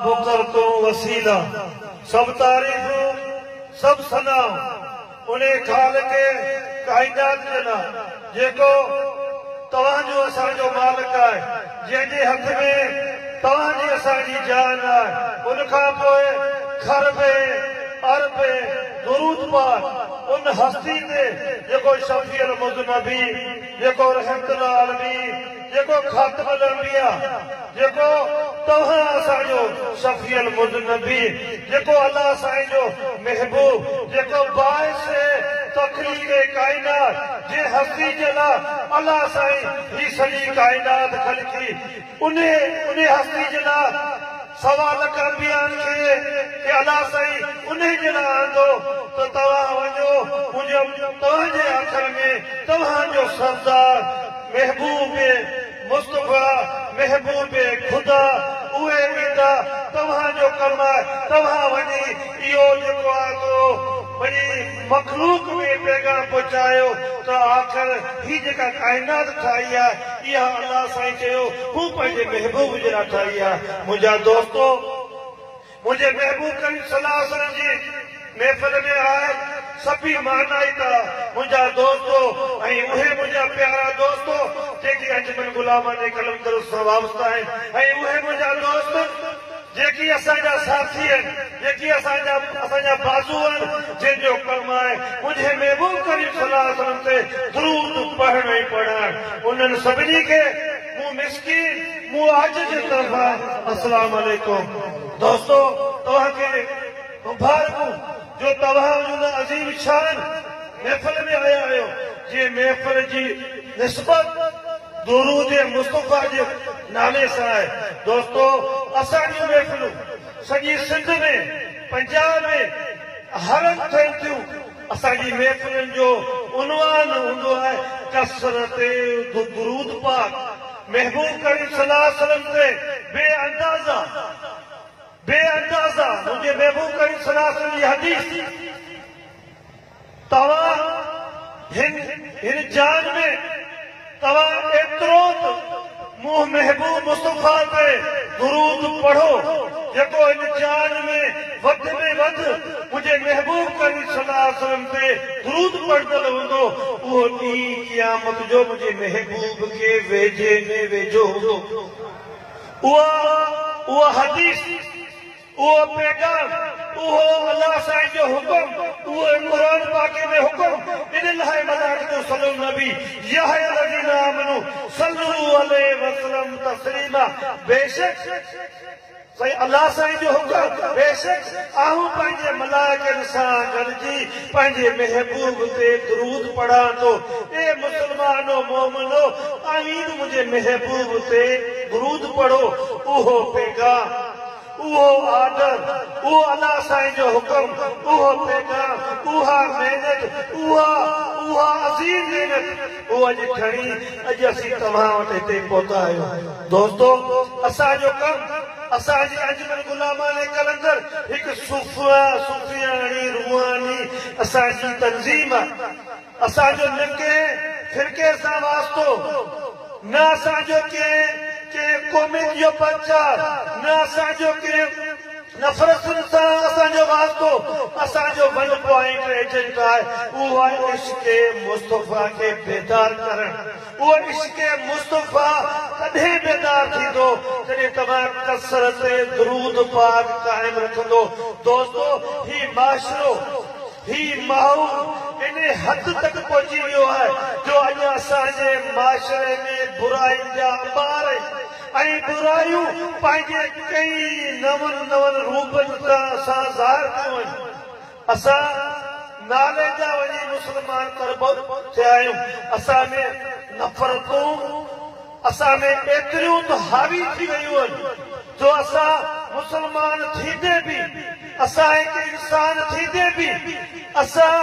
فخر تون وسيله، سڀ تعريفون، سڀ ثنا، انهي خالق ڪائنات جي لاء، جيڪو توهان جو اسان جو مالڪ آهي، جنهن جي هٿ ۾ توهان جي اسان جي جان آهي، ان کان پوء خربين، اربين درود پاٺ ان هستي تي، جيڪو شفيع المذنبين، جيڪو رحمت للعالمين، جيڪو خاتم الانبياء جيڪو توهان اسان جو شفيع المذنبي جيڪو الله سائين جو محبوب جيڪو باعث تخليق ڪائنات جنهن هستي جي لا الله سائين هي سڄي ڪائنات خلقي انهي انهي هستي جي لا سوا لک انبيائن کي ته الله سائين انهي جي لاء آندو ته توهان وڃو منهنجو توهان جي آخر ۾ توهان جو سردار محبوب مصطفيٰ محبوب خدا اهي ايندا توهان جو ڪم آهي توهان وڃي اهو جيڪو آندو وڃي مخلوق ۾ پيغام پهچايو ته آخر هي جيڪا ڪائنات ٺاهي آهي اها الله سائين چيو مون پنهنجي محبوب جي لاء ٺاهي آهي منهنجا دوستو منهنجي محبوب ڪريم صلي الله عليه وسلم جي محفل ۾ آيل سڀيئي مهنائت آ منهنجا دوستو ۽ اهي منهنجا پيارا دوستو جيڪي انجمن غلاماني قلندرس سان وابسته آهن ۽ اهي منهنجا دوست جيڪي اسان جا ساٿي آهن، جيڪي اسان جا اسان جا بازو آهن، جن جو ڪم آهي منهنجي محبوب ڪريم صلي الله عليه وسلم تي درود پڙهڻ ۽ پڙهائڻ، انهن سڀني کي مون مسڪين، مون عاجز جي طرفان السلام عليڪم. دوستو توهان کي مبارڪون جو توهان ان عظيم شان محفل ۾ آيا آهيو، جنهن محفل جي نسبت درود مصطفيٰ جي. نالي سان آهي دوستو اسان جون محفلون سڄي سنڌ ۾ پنجاب ۾ هرنڌ ٿين ٿيون اسان جي محفلن جو عنوان هوندو آهي ڪثرت درود پاڪ محبوب ڪريم صلي الله عليه وسلم تي بي اندازه بي اندازه منهنجي محبوب ڪريم صلي الله عليه وسلم جي حديث توهان هن هن جان ۾، توهان ايترو ته منهن محبوب مصطفيٰ تي درود پڙهو، جيڪو هن جان ۾ وڌ ۾ وڌ منهنجي محبوب ڪريم صلّي اللّٰه عليه وسلّم تي درود پڙهندڙ هوندو، اهو ڏينهن قيامت جو منهنجي محبوب کي ويجهي ۾ ويجهو هوندو. اها اها حديث. اهو پيغام، اهو الله سائين جو حڪم، اهو قرآن پاڪ ۾ حڪم، ان لاء ملائڪ جو صلو النبي، ياهيا الذين آمنو صلو عليه وسلم تسليما، بيشڪ سائين الله سائين جو حڪم، بيشڪ آئون پنهنجي ملائڪن سان گڏجي پنهنجي محبوب تي درود پڙهان ٿو، اي مسلمانو مؤمنو اوهين به منهنجي محبوب تي درود پڙهو، اهو پيغام، اهو آرڊر، اهو الله سائين جو حڪم، اهو پيغام، اها محنت، اها، اها عظيم محنت، اهو اڄ کڻي، اڄ اسين توهان وٽ هتي پهتا آهيون. دوستو! اسان جو ڪم، اسان جي انجمن غلامانه قلندر هڪ صوفيانه، روحاني اسان جي تنظيم آهي. اسان جو نه ڪنهن فرقي سان واسطو، نه اسان جو ڪنهن ڪنهن قومين جو پرچار، نه اسان جو ڪنهن نفرتن سان اسان جو واسطو، اسان جو ون پوائنٽ ايجنڊا آهي اهو آهي عشق مصطفيٰ کي بيدار ڪرڻ، اهو عشق مصطفيٰ تڏهن بيدار ٿيندو جڏهن توهان ڪثرت درود پاڪ قائم رکندو، دوستو هي معاشرو. هي ماحول انهي حد تڪ پهچي ويو آهي جو اڄ اسان جي معاشري ۾ برائين جا انبار ۽ برايون پنهنجي ڪئين نون نون روپن سان ظاهر ٿيون آهن. اسان نالي جا وڃي مسلمان تربو ٿيا آهيون. اسان ۾ نفرتون. اسان ۾ ايتريون ته حاوي ٿي ويون آهن جو اسان مسلمان ٿيندي به اسان هڪ انسان ٿيندي به اسان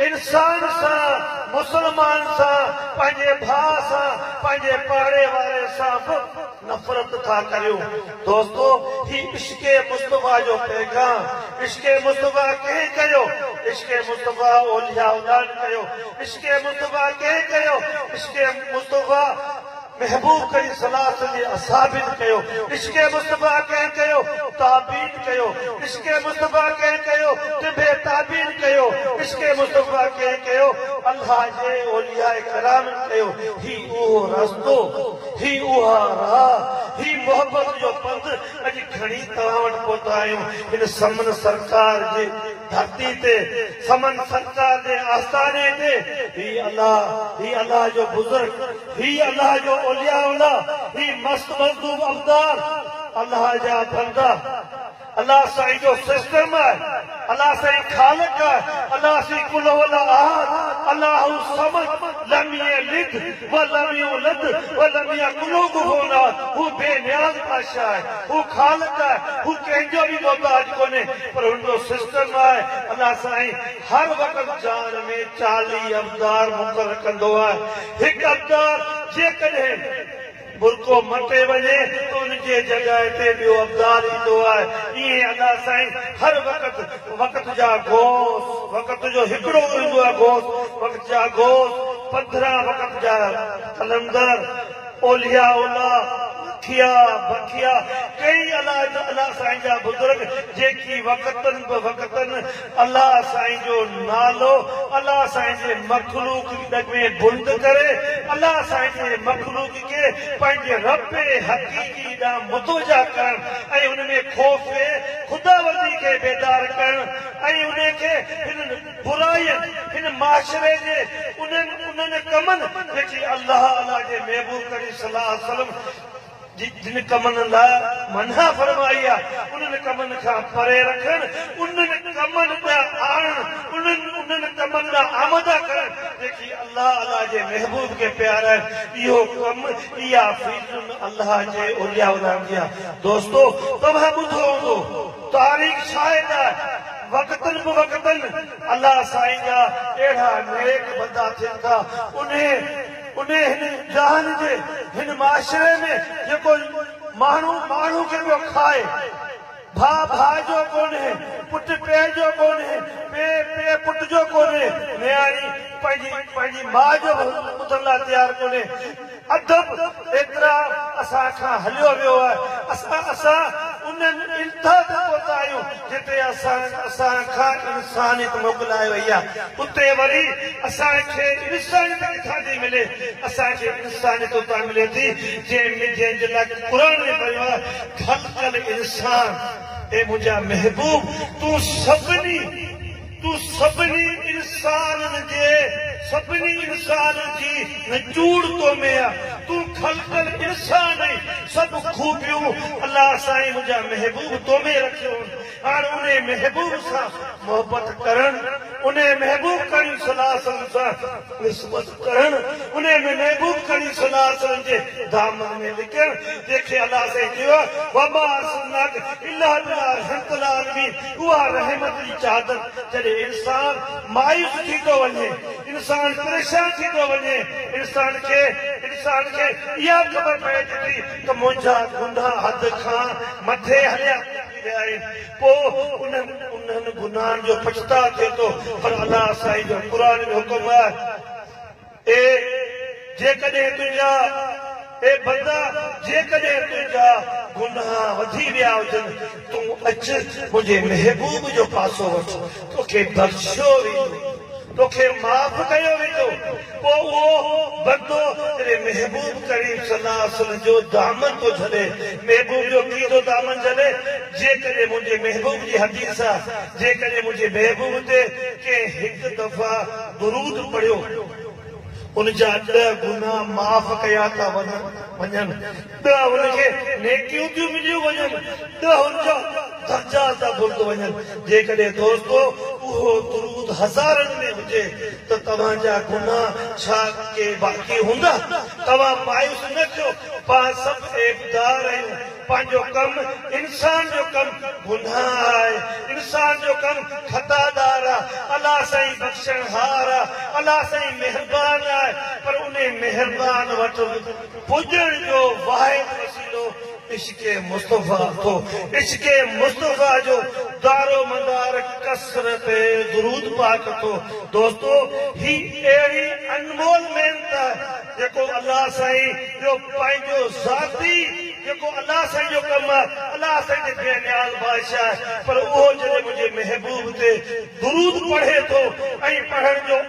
انسان سان مسلمان سان پنهنجي ڀاء سان پنهنجي پاڙي واري سان به نفرت ٿا ڪريون. دوستو هي عشق مصطفيٰ جو پيغام عشق مصطفيٰ ڪنهن ڪيو عشق مصطفيٰ اولياء اڏاڻ ڪيو عشق مصطفيٰ ڪنهن ڪيو عشق مصطفيٰ محبوب ڪريم صلي الله عليه وسلم جي اصحابين ڪيو عشق مصطفيٰ ڪنهن ڪيو تابعين ڪيو عشق مصطفيٰ ڪنهن ڪيو ٽنڀي تابعين ڪيو عشق مصطفيٰ ڪنهن ڪيو الله جي اولياء ڪرامن ڪيو هي اهو رستو هي اها راهه، هي محبت جو پنڌ اڄ کڻي توهان وٽ پهتا آهيون. هن سمن سرڪار جي ڌرتي تي، سمن سرڪار جي آستاني تي، هي الله، هي الله جو بزرگ، هي الله جو اولياء الله، هي مست مجذوب ابدال، الله جا بندا، الله سائين جو سسٽم آهي الله سائين خالق آهي الله سائين قل هو الله احد الله الصمد لم يلد ولم يولد ولم يڪن له ڪفوا احد هو بي نياز بادشاهه آهي هو خالق آهي هو ڪنهن جو به محتاج ڪونهي پر هن جو سسٽم آهي الله سائين هر وقت جان ۾ چاليهه ابدار مقرر ڪندو آهي هڪ ابدار جيڪڏهن برقعو مٽي وڃي ته ان جي جڳهه تي ٻيو ابدال ايندو آهي. ائين ادا سائين هر وقت وقت جا غوث وقت جو هڪڙو ئي هوندو آهي غوث وقت جا غوث پڌران وقت جا قلندر اولياء الله مکيا بکيا ڪئين الاجا ادا سائين جا بزرگ جيڪي وقتن به وقتن الله سائين جو نالو الله سائين جي مخلوق ڏڳوين بلند ڪري الله سائين جي مخلوق کي پنهنجي رب حقيقي ڏانهن متوجه ڪرڻ ۽ ان ۾ خوف خداوندي کي بيدار ڪرڻ ۽ ان کي هنن برائين هن معاشري جي انهن انهن ڪمن جيڪي الله الله جي محبوب ڪريم صلي الله عليه وسلم جن ڪمن لاء منع فرمائي آهي، انهن ڪمن کان پري رکڻ، انهن ڪمن ڏانهن آڻڻ، انهن انهن ڪمن ڏانهن آماده ڪرڻ، جيڪي الله الله جي محبوب کي پيارا آهن، اهو ڪم، اها فيلڊ الله جي اولياء ڪرام جي آهي. دوستو! توهان ٻڌو هوندو، تاريخ شاهد آهي، وقتن بوقتن الله سائين جا اهڙا نيڪ بندا ٿين ٿا، انهي. انهيء هن جهان جي هن معاشري ۾ جيڪو ماڻهو ماڻهو کي پيو کائي، ڀاء ڀاء جو ڪونهي، پٽ پيء جو ڪونهي، پيء پيء پٽ جو ڪونهي، نياڻي پنهنجي پنهنجي ماء جو به ٻڌڻ لاء تيار ڪونهي. ادب ايترا اسان کان هليو ويو آهي، اسان اسان انهن انتها تي پهتا آهيون. جتي اسان کان انسانيت موڪلائي وئي آ اتي وري اسان کي انسانيت ڪٿان ٿي ملي اسان کي انسانيت اتان ملي ٿي جنهن جنهن جي لاء قرآن ۾ فرمايو آ خلق الانسان اي منهنجا محبوب تون سڀني تون سڀني انسانن جي سڀني انسانن جي نچوڙ تو ۾ آ تون خلقل انسان ۽ سڀ خوبيون الله سائين منهنجا محبوب تو ۾ رکيون هن هاڻ انهي محبوب سان محبت ڪرڻ انهي محبوب ڪريم صلي الله عليه وسلم سان نسبت ڪرڻ انهي ۾ محبوب ڪريم صلي الله عليه وسلم جي دامن ۾ لڪڻ جنهن کي الله سائين چيو آ وما ارسلناڪ الا بلاء رحمت للعالمين اها رحمت جي چادر جڏهن انسان مايوس ٿي ٿو وڃي، انسان پريشان ٿي ٿو وڃي، انسان کي انسان کي اها خبر پئي ٿي ٿي ته منهنجا گناهه حد کان مٿي هليا ٿي ويا آهن، پوء انهن انهن گناهن جو پڇتاء ٿئي ٿو، پر الله سائين جو قرآن ۾ حڪم آهي. اي جيڪڏهن تنهنجا، اي بندا جيڪڏهن تنهنجا، گناهه وڌي ويا هجن، تون اچ منهنجي محبوب جو پاسو وٺ، توکي بخشيو ويندو، توکي معاف ڪيو ويندو، پوء اهو بندو جڏهن محبوب ڪريم صلي الله عليه وسلم جو دامن ٿو جهلي، محبوب جو ڪيئن ٿو دامن جهلي، جيڪڏهن منهنجي محبوب جي حديث آ، جيڪڏهن منهنجي محبوب تي ڪنهن هڪ دفعي. درود پڙهيو ان جا ڏهه گناهه معاف ڪيا ٿا وڃن، ڏهه ان کي نيڪيون ٿيون مليون وڃن، ڏهه ان جا درجا ٿا بلند وڃن، جيڪڏهن دوستو اهو درود هزارن ۾ هجي ته توهان جا گناهه ڇا ڪي باقي هوندا؟ توهان مايوس نه ٿيو پاڻ سڀ عيبدار آهيون پنهنجو ڪم انسان جو ڪم گناهه آهي انسان جو ڪم خطا دار آهي الله سائين بخشڻهار آهي الله سائين مهربان آهي پر انهي مهربان وٽ پڄڻ جو واحد وسيلو عشق مصطفيٰ اٿو عشق مصطفيٰ جو دارومدار ڪثرت درود پاڪ اٿو دوستو هي اهڙي انمول محنت آهي جيڪو الله سائين جو پنهنجو ذاتي جيڪو الله سائين جو ڪم آهي الله سائين تي بي نياز بادشاهه آهي پر اهو جڏهن منهنجي محبوب تي درود پڙهي ٿو ۽ پڙهڻ جو